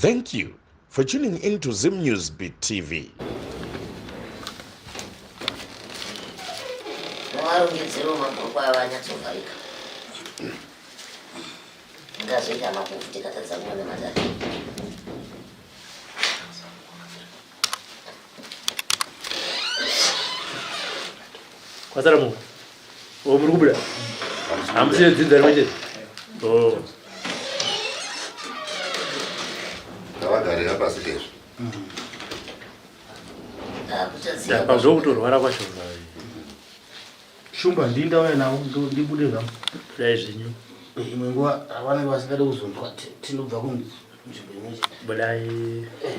Thank you for tuning in to Zim News Beat TV. Varongedzero mabhuku aya vanyatsovharika. Ngazoita makufu tikatadza kuona madhara. Kwazara mungu. Oh, muri kubuda hamusine dzidza rimwe chete oh. ndavagarira pasi kezvo apa zvokutorwara kwacho shumba ndii ndauya navo ndibude zvangu dai zvenyu imwe nguva avanenge vasingade kuzonzwa tinobva kunzvimbo imwe chete budai eh.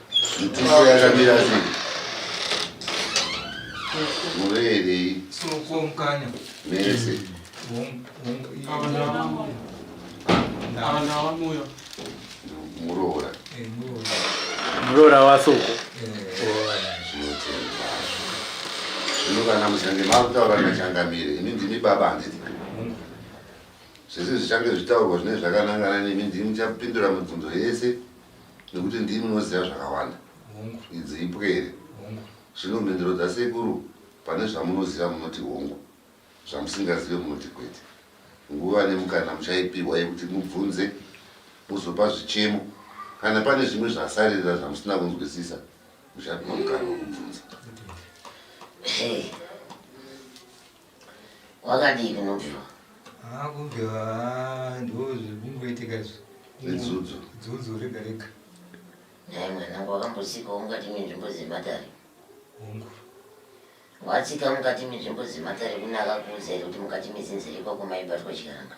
Mtuso yakamira sei? Mureerei? Soko mukanya. Mese. Muroora. Eh, Muroora wasoko. Eh. Zvino kana muchange makutaura nachangamire, imi ndimi baba handiti? Zvese zvichange zvitaurwa zvine zvakanangana nemi ndimi muchapindura mibvunzo yese. nekuti ndimi munoziva zvakawanda. Hongu. Idzi ipwere. Hongu. Zvino mhinduro dzasekuru pane zvamunoziva munoti hongu, zvamusingazive munoti kwete. Nguva nemukana muchaipihwa yekuti mubvunze muzopa zvichemo. Kana pane zvimwe zvasaririra zvamusina kunzwisisa muchapihwa mukana wekubvunza. Okay. Wakadii kunobviwa? Ah, kubviwa ah, ndozvikungoitika izvi. Zvedzudzo. Dzudzo rega rega. Dai mwanangu wakambosikawo mukati menzvimbo dzematare. Hongu. Watsika mukati menzvimbo dzematare kune akakuudza here kuti mukati metsinzira ikwako maibatwa chikaranga?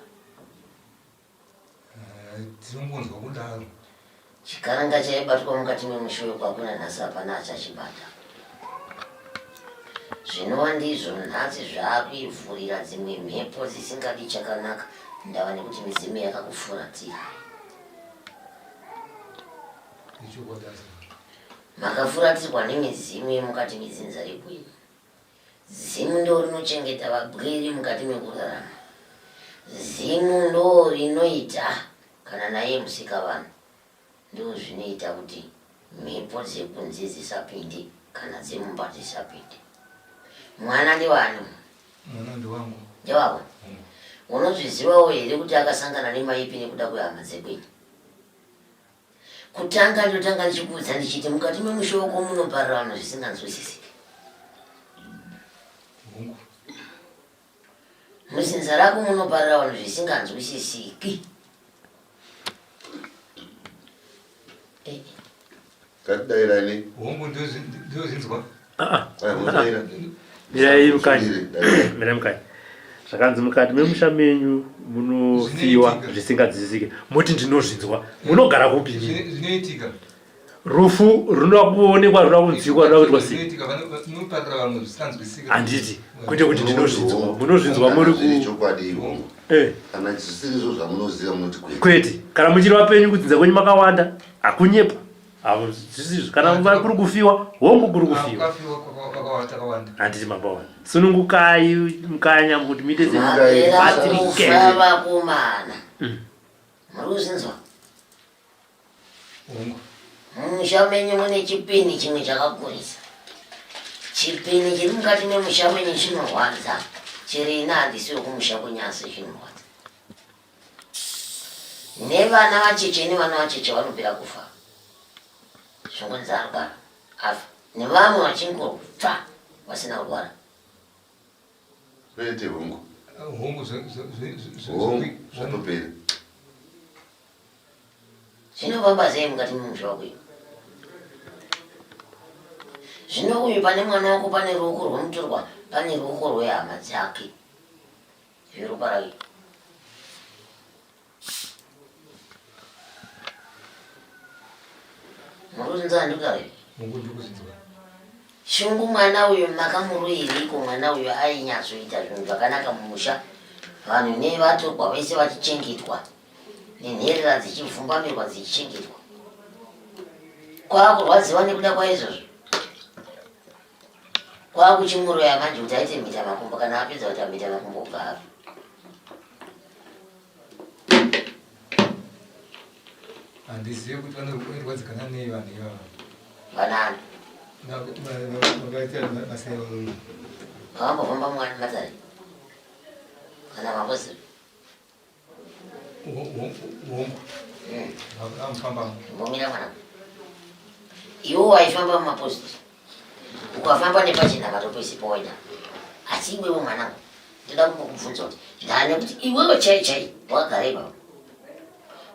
Tinongonzwa kudaro. Chikaranga chaibatwa mukati memusha uyo kwakuna nhasi hapana achachibata. Zvinova ndizvo nhasi zvaakuivhurira dzimwe mhepo dzisingadi chakanaka ndava nekuti midzimu yakakufuratira. Makafuratirwa nemidzimu yemukati medzinza rekwenu. Zimu ndorinochengeta vagwiri mukati mekurarama. Zimu ndorinoita kana naiye musikavanhu. Ndozvinoita kuti mhepo dzekunze dzisapinde kana dzemumba dzisapinde. Mwana ndewani? Mwana ndewangu. Ndewako? Mm. Unozvizivawo here kuti akasangana nemaipi nekuda kwehama dzekwenyu? Kutanga ndotanga ndichikuudza ndichiti mukati memusha wako munoparira vanhu zvisinganzwisisiki. Muzinza rako munoparira vanhu zvisinganzwisisiki. Katidairai nei? Hongu ndozinzwa. Ah, ah. mirai mukati mirai mukati zvakanzi mukati memusha menyu munofiwa zvisingadzidzisike moti ndinozvinzwa munogara kupi zvinoitika rufu runoda kuonekwa runoda kunzwikwa runoda kuitwa sei handiti kwete kuti ndinozvinzwa munozvinzwa muri eh. kana zvisiri izvo zvamunoziva munoti kwete kana muchiri vapenyu kudzinza kwenyu makawanda hakunyepa kana nguva kuri kufiwa hongu kuri kufiwa handiti makawana sunungukai mukanya kuti muite zvatirikevavakomana mm. muri kuzinzwa mumusha menyu mune chipini chimwe chakakurisa chipini chiri mukati memusha menyu chinorwadza chiri ina handisi wekumusha kwenyasi chinorwadza nevana vacheche nevana vacheche vanopera kufa zvokunzi arwara afa nevamwe vachingobva vasina kurwara vete hongu hongu zvatopera zvinofamba sei mukati memusha wakuyo zvino uyu pane mwana wako pane ruoko rwomutorwa pane ruoko rwehama dzake Zvirupai. Muruzinza ndikawe. Mungu ndikuzinza. Shungu mwana uyo makamuruiriko mwana uyo ainyatsoita zvinhu zvakanaka mumusha vanhu nevatorwa vese vachichengetwa nenherera dzichivhumbamirwa dzichichengetwa kwakurwadziwa nekuda kwaizvozvo kwakuchimuroya manje kuti aite mhita makumbo kana apedza kuti amhita makumbo ubva afa handizive kuti vanorwadzikana nei vanhu ivava vanani vambofamba mwana matari kana mamboziva iwo waifamba mumaposit ukafamba nepachena vatopesi powaida asi iwewe mwanangu ndoda kukubvunza kuti ndane kuti iwewe chai chai wakagara ipapo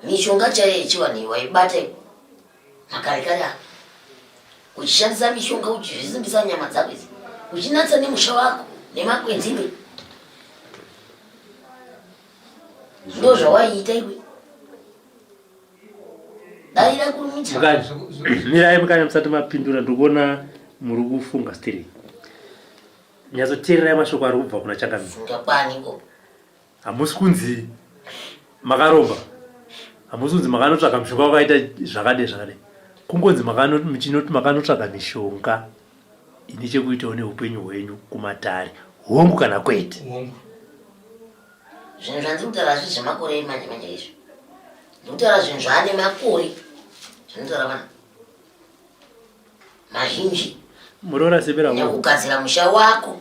mishonga chaiyo yechivanhu waibata makare kare ako uchishandisa mishonga uchizvisimbisa nyama dzako idzi uchinatsa nemusha wako nemakwenzi iwe ndo zvawaiita iwe daira kurumita mirai mukanya musati mapindura ndikuona muri kufunga stiri nyatsoteererai mashoko ari kubva kuna changamira hamusi kunzi makaromba hamusi kunzi makanotsvaka mushonga wakaita zvakadei zvakadei kungonzi muchinoti makanotsvaka mishonga ine chekuitawo neupenyu hwenyu kumatare hongu kana kwete hongu zvinhu zvandiri kutaura hazvi zvemakore emanje manje izvo ndiri kutaura zvinhu zvaane makore zvinotaura vanhu mazhinji muroora sebera nekugadzira musha wako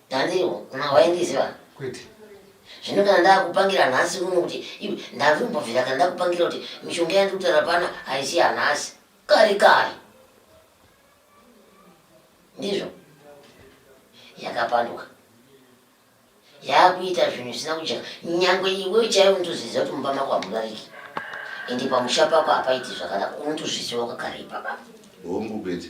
Ndandiwo, ma waindiziva? Kwete. Zvino kana ndakupangira nhasi uno kuti iwe ndavimbobvira kana ndakupangira kuti mishonga yandiri kutaura pana haisi yanhasi. Kare kare. Ndizvo. Yakapanduka. Yakuita zvinhu zvisina kujeka. Nyangwe iwe chaiwe unotozviziva kuti mumba mako hamudariki. Ende pamusha pako hapaiti zvakanaka. Unotozviziva kakare ipapa. Hongu kwete.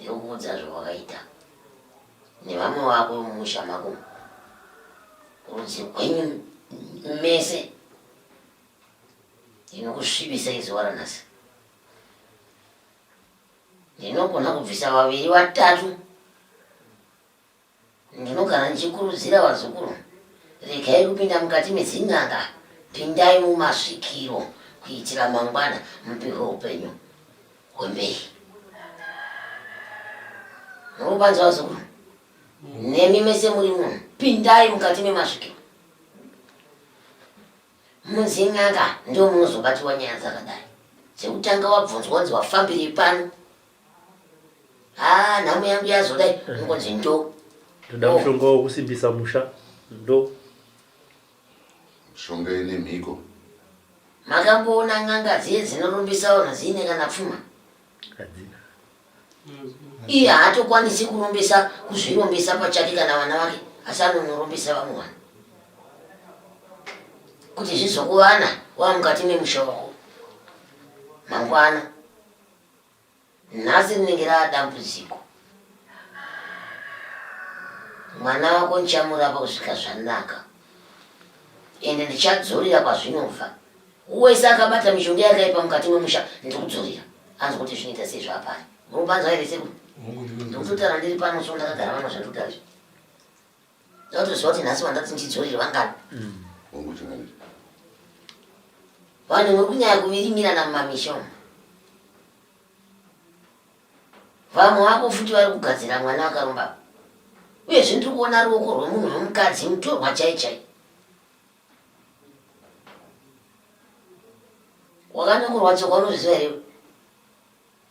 yokuudza zvawakaita nevamwe vako mumusha mako rudzi rwenyu mese inokusvibisai zuva ranhasi ndinogona kubvisa vaviri vatatu Ndinogara ndichikurudzira vazukuru, regai kupinda mukati mezin'anga, pindai mumasvikiro kuitira mangwana mupihwe upenyu hwemberi. Murubanza vazukuru, nemi mese muri munhu, pindai mukati memasvikiro. Muzin'anga ndomunozobatiwa nyaya dzakadai. Chekutanga wabvunzwa kunzi wafambirei pano haa nhamo yangu yazoda ingonzi ndo ndoda mushonga wekusimbisa musha ndo mushonga ine mhiko makamboona n'anga dziye dzinorombisawo nadziine kana pfuma hadzina iye haatokwanisi kurombesa kuzvirombesa pachake kana vana vake asi anonorombesa vamwe vanhu kuti zvizokuvana waa mukati memusha wako mangwana Nhasi rinenge rava dambudziko. Mwana wako ndichamurapa kusvika zvanaka ende ndichadzorera kwazvinobva. Wese akabata mishonga yakaipa mukati memusha ndiri kudzorera. Anzi kuti zvinoita sei zvapari. Munopanzwa here sekuru? Ndiri kutotaura ndiri pano so ndakagara vana zvandiri kutaura izvi. Ndatoziva kuti nhasi vandati ndidzorere vangani. Mm. Vanhu muri kunyaya kuvirimirana mumamisha umu. Vamwe vako futi vari kugadzira mwana vakarumba. Uye zvinhu tiri kuona ruoko rwemunhu wemukadzi mutorwa chai chai. Wakanyokorwa tsoka unozviziva here?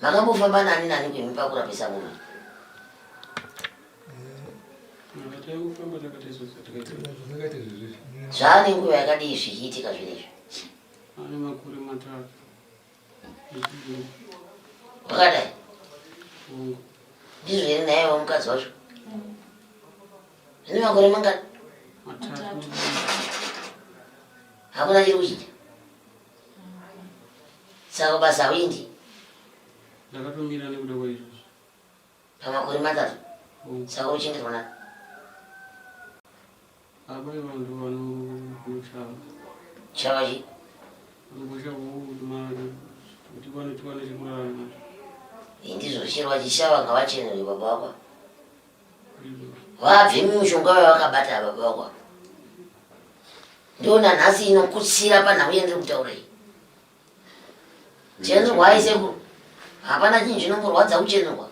makambofamba nani nani kwemi pakurapisa munhu zvaane nguva yakadii zvichiitika zvinezvi wakadai ndizvo here naye wamukadzi wacho zvine makore mangani hakuna chiri kuchiita saka basa hauindi ndakatomira nekuda kwaizvozvo pamakore matatu oh. saka uchengetwa na apa ivanhu vanokushava shava chi vanokushava mari kuti vanotiwane chekurarama indizvo chero vachishava ngavachenere baba wako vabve mumushonga wavakabata ava baba ndiona nhasi inokutsira panhau yandiri kutaura iyi chenurwa aisekuru hapana chinhu chinongorwadza kuchenurwa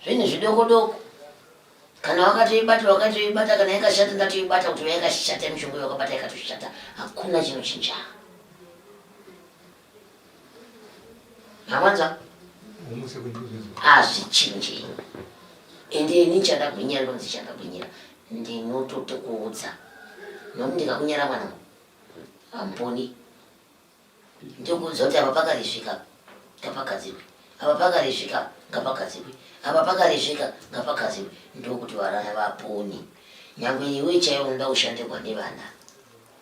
zvinhu zvidoko doko kana wakatoibata wakatoibata kana yakashata ndatoibata kuti yakashata mishonga yakabata yakatoshata hakuna chinochinja Zvamwanza? Hazvichinji. Ende ini chandagwinyira ndonzi chandagwinyira. Ndinotote kuudza. Nokuti ndikakunyara mwana. Hamponi. Ndikuudza kuti apa pakarizvika. Ngapagadzirwe. Apa pakarizvika. Ngapagadzirwe. Apa pakarizvika. Ngapagadzirwe. Ndokuti varana vaponi. Nyangwe iwe chaiwo unoda kushandirwa nevana.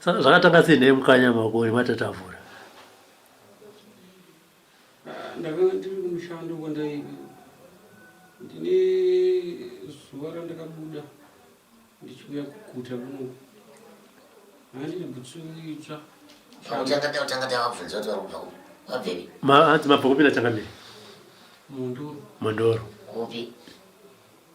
saka zvakatanga sei nei mukanya makoni matatavura ndakanga ndiri kumushando kwandaive ndine zuva randakabuda ndichiuya kuguta kuno handine butsu itsva mabva kupinda changamiri mondoro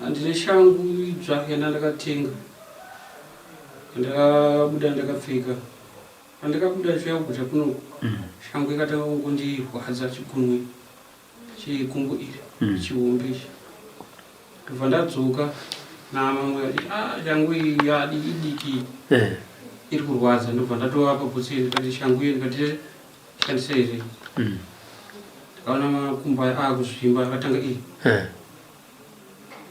Handine shangu idzva yandandakatenga yandakabuda ndakapfeka pandakabuda ndichiuya kuguta kunoku mm. shangu ikatanga kungondirwadza chigunwe chekumbo iri mm. chihombe ichi ndobva ndadzoka namamwe ah, shangu iyi yadiki diki eh. iri kurwadza ndobva ndatovapa butsi ndikati shangu iyo ndikati Shandisa izvi. Mm. Takaona makumbo aya akuzvimba akatanga iyi. Eh.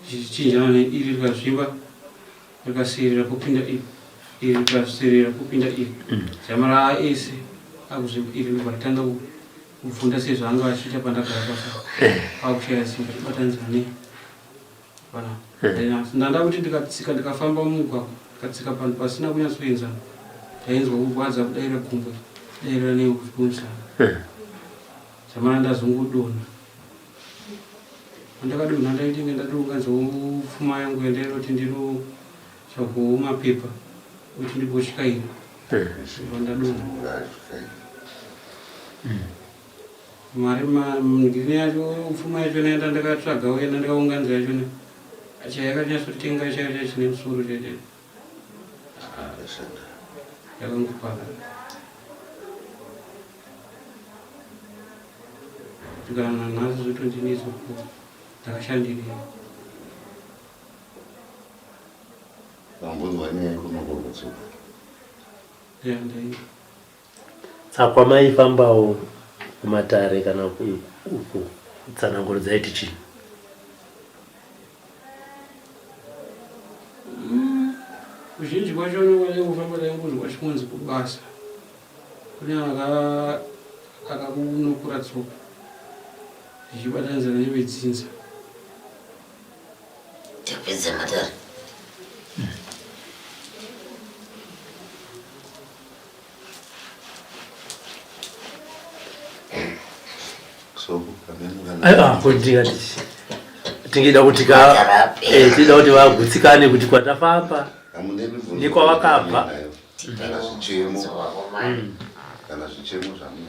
Zvichichinjana neiri rikazvimba rikasirira kupinda iri. Iri rikasirira kupinda iri. Mm. Chamara ese akuzvimba iri ndobva ratanga kufunda sezvaanga achiita pandagara pasa. Eh. Akushaya simba tibatanizane. ndanda kuti ndikatsika ndikafamba mumugwagwa ndikatsika panhu pasina kunyatsoenzana ndainzwa kurwadza kudaira gumbo dairira neekumusana zvamana ndazongodona andakadonha ndaitenge ndatounganza pfuma yangu yandaira kuti ndinotsvagawo mapepa kuti ndigoshika iri ndadonha Mari ma ndini yacho pfuma yacho naenda ndakatsvaga uye ndandikaunganza yacho ne acha yakanyatsotenga chayo chacho chine musoro chete yakangokwana kusvikana nanhasi zvotondinetsa ku ndakashandirei vambonzwa nyaya ikonokorotsoka ya ndai Tsakwa maifambawo kumatare kana uko tsananguro dzaiti chii? Kuzhinji kwacho anokwanisa kufamba taingonzwa chikunzi kubasa kune akakunokura tsoka zvichibatanidzana nevedzinza tapedza matare kudira tingida kuti eh, tida kuti vagutsikane kuti kwatafamba nekwavakabva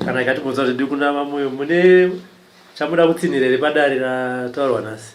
kana ikatibvunza kuti ndikunama moyo mune chamuda kutsinhira here padare rataurwa nhasi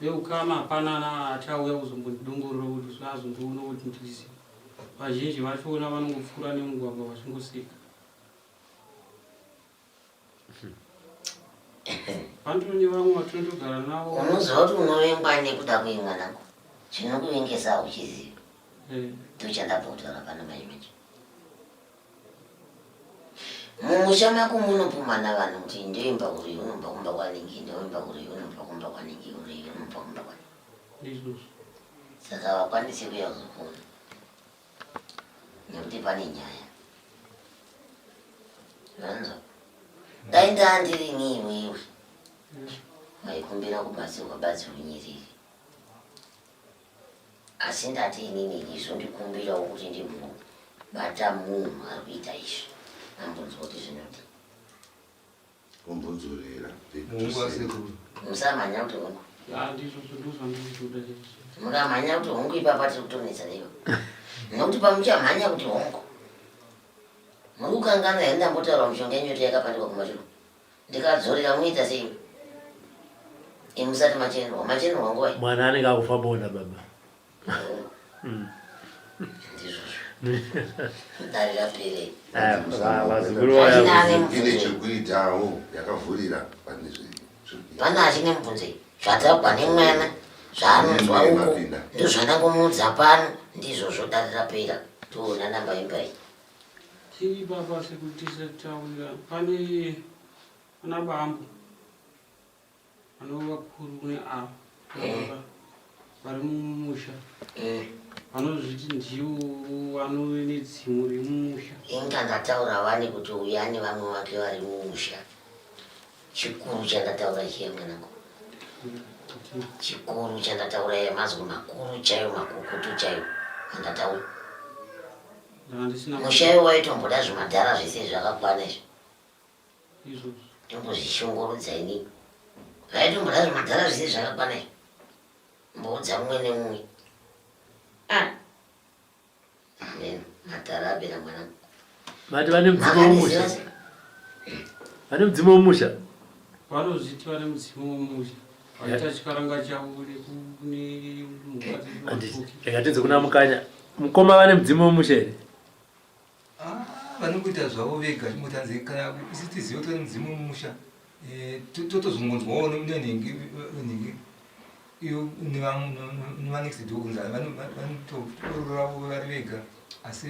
yeukama hapana na achauya kuzombondidongorora kuti zvazondiona kuti ndizi vazhinji vachiona vanongopfuura nemugwagwa vachingoseka Andoni vamwe vatondogara navo. Unoziva kuti unovengwa nekuda kuimwa nangu. Chinokuvengesa uchiziva. Eh. Ndochandabva kutaura pano manje manje. Mumusha mako munopumana vanhu kuti ndoimba kuri unomba kumba kwaningi ndoimba kuri unomba kumba kwaningi kuri unomba kumba kwaningi. Saka vakwanise kuya kuzokona. nekuti pane nyaya zvanzo dai ndandiri nini iwe maikumbira kubatsirwa batsirwa nyiriri asi ndati inini izvo ndikumbirawo kuti ndimbobata munhu ari kuita izvi ambonzwa kuti zvinodi Kumbodzorera. Musamhanya kuti hongu. Mukamhanya kuti hongu ipapa tiri kutonetsa neyo. Nokuti pamuchamhanya kuti hongu. Muri kukanganwa here ndambotaura mushonga yenyoto yakapandikwa kumashure. Ndikadzorera muita sei? Imusati machenwa. Machenwa ngoi. Mwana anenge akufa bonda baba. ine chekuitawo yakavhurira pane pane achine mubvunzo zvataugwa nemwana zvaanonzwa uko ndozvandangomuudza pano ndizvozvo darirapera toona namba imbai tiri baba sekutisa taurira pane ana bambo Vanova vakuru kune ava eh. vari mumusha eh. vanozviti ndiwo vanove nedzimu remumusha. Inga ndataura wani kuti uyu ane vamwe vake vari mumusha. Chikuru chandataura chiye mwanangu. Chikuru chandataura iye mazwi makuru chaiyo makukutu chaiyo andataura. Musha iwo waitomboda zvimadhara zvese zvakakwana izvo. ndombozvishungurudza ini zvaitomboda zvimadhara zviri zvakakwana izvi mboudza mumwe nemumwe ah. madhara abira mwana vati vane mudzimu womusha vane mudzimu womusha vanozviti vane mudzimu womusha vaita chikaranga chavo nekunemukaziatinze kuna mukanya mukoma vane mudzimu womusha here Ah, vanokuita zvavo vega chingoti hanzi kana isu tizive kuti vane mudzimu mumusha eh, to- totozongonzwawo ne- nenhingi nenhingi iyo nevam- nevanext door kunzi vano- va- vanotororavo vari vega asi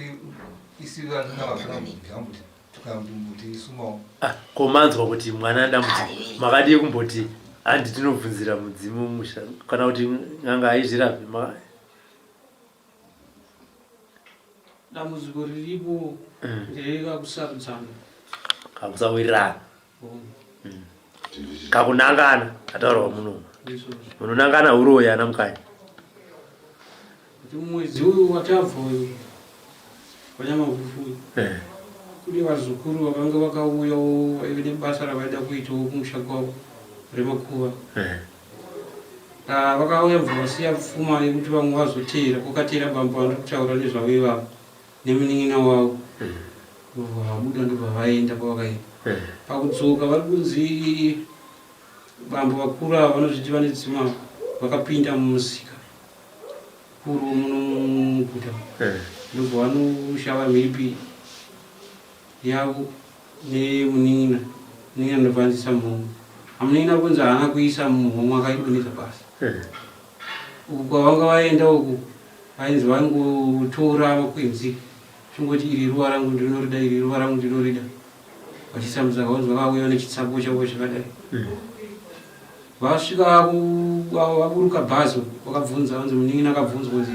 isu vanhu navafana kuti tukambuti isumawo Ah, ko manzwa kuti mwana adambudziko makadii kumboti handi tinobvunzira mudzimu musha kana kuti n'anga haizvirapi ma- dambudziko riripo mm. nderekakusarudzana kakusawirirana mm. mm. kakunangana ataurawa muno munonangana uroyi ana mukanya mwedzi uyu watabva uyu wanyamavufuyu eh. kune vazukuru vakanga vakauyawo vaive nebasa ravaida kuitawo kumusha kwavo remakuva eh. Ah, vakauya bva vasiya pfuma yekuti vamwe vazoteera kwakateera bambo vanoda kutaura nezvavo ivavo nemunin'ina wavo vabuda mm. ndobva vaenda kwavakaenda mm. pakudzoka vari kunzi bambo vakuru ava vanozviti vane dzima vakapinda mumusika kuru muno muguta mm. ndobva vanoshava mhipi yavo nemunin'ina munin'ina ndobva anzisa mhomho amunin'ina kunzi haana kuisa mumhomho akaidonhedza pasi uku kwavanga vaenda uku vainzi vangotora makwenzi chingoti iri ruva rangu ndinorida iri ruva rangu ndinorida vachisamudza kaunzi vakauya nechitsapo chavo chakadai Vasvika vaburuka bhazi vakabvunza vanzi munin'ina akabvunzwa kunzi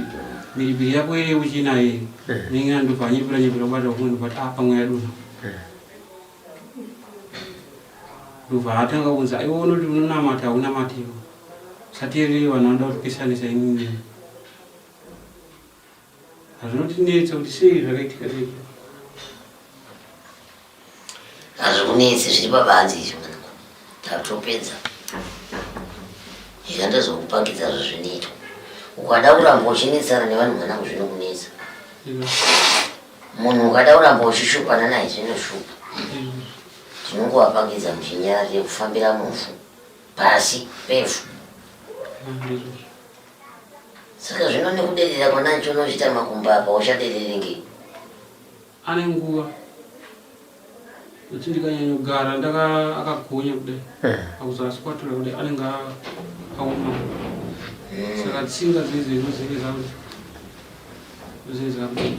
mhiripiri yako iri yekuchina here eh. munin'ina ndobva anyepera nyepera kubata kumwe ndobati a ah, pamwe yadunha eh. ndobva atanga kunzi aiwa unoti unonamata haunamatiwo usateerere vanhu vanoda kutipesanisa inini Hazvinotinetsa kuti sei zvakaitika sei? Hazvikunetsi zviri pabanzi izvi mwanangu. Tatopedza. Ika ndozokupangidza zvazvinoitwa. Ukada kuramba uchinetsana nevanhu mwanangu zvinokunetsa. Iwe, Munhu ukada kuramba uchishupana naye zvinoshupa. iwe. Tinongowapangidza muchinyarari yekufambira mufu. Pasi pefu. Ah, ndizvozvo. Saka zvino nekuderera kwanancho unochita makumba apa uchaderere ngei? Ane nguva achindikanyanya kugara ndaka akagonya kudai eh. akuzasi kwatura kudai anenge aoma hmm. saka tsinga dzeidzo inozenge zakuti zvinhu zvakudai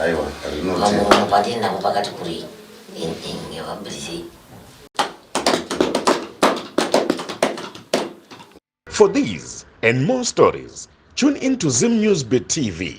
aiwa rinotiinda pakati kuri ngevabrizei For these and more stories, tune in to Zim News Beat TV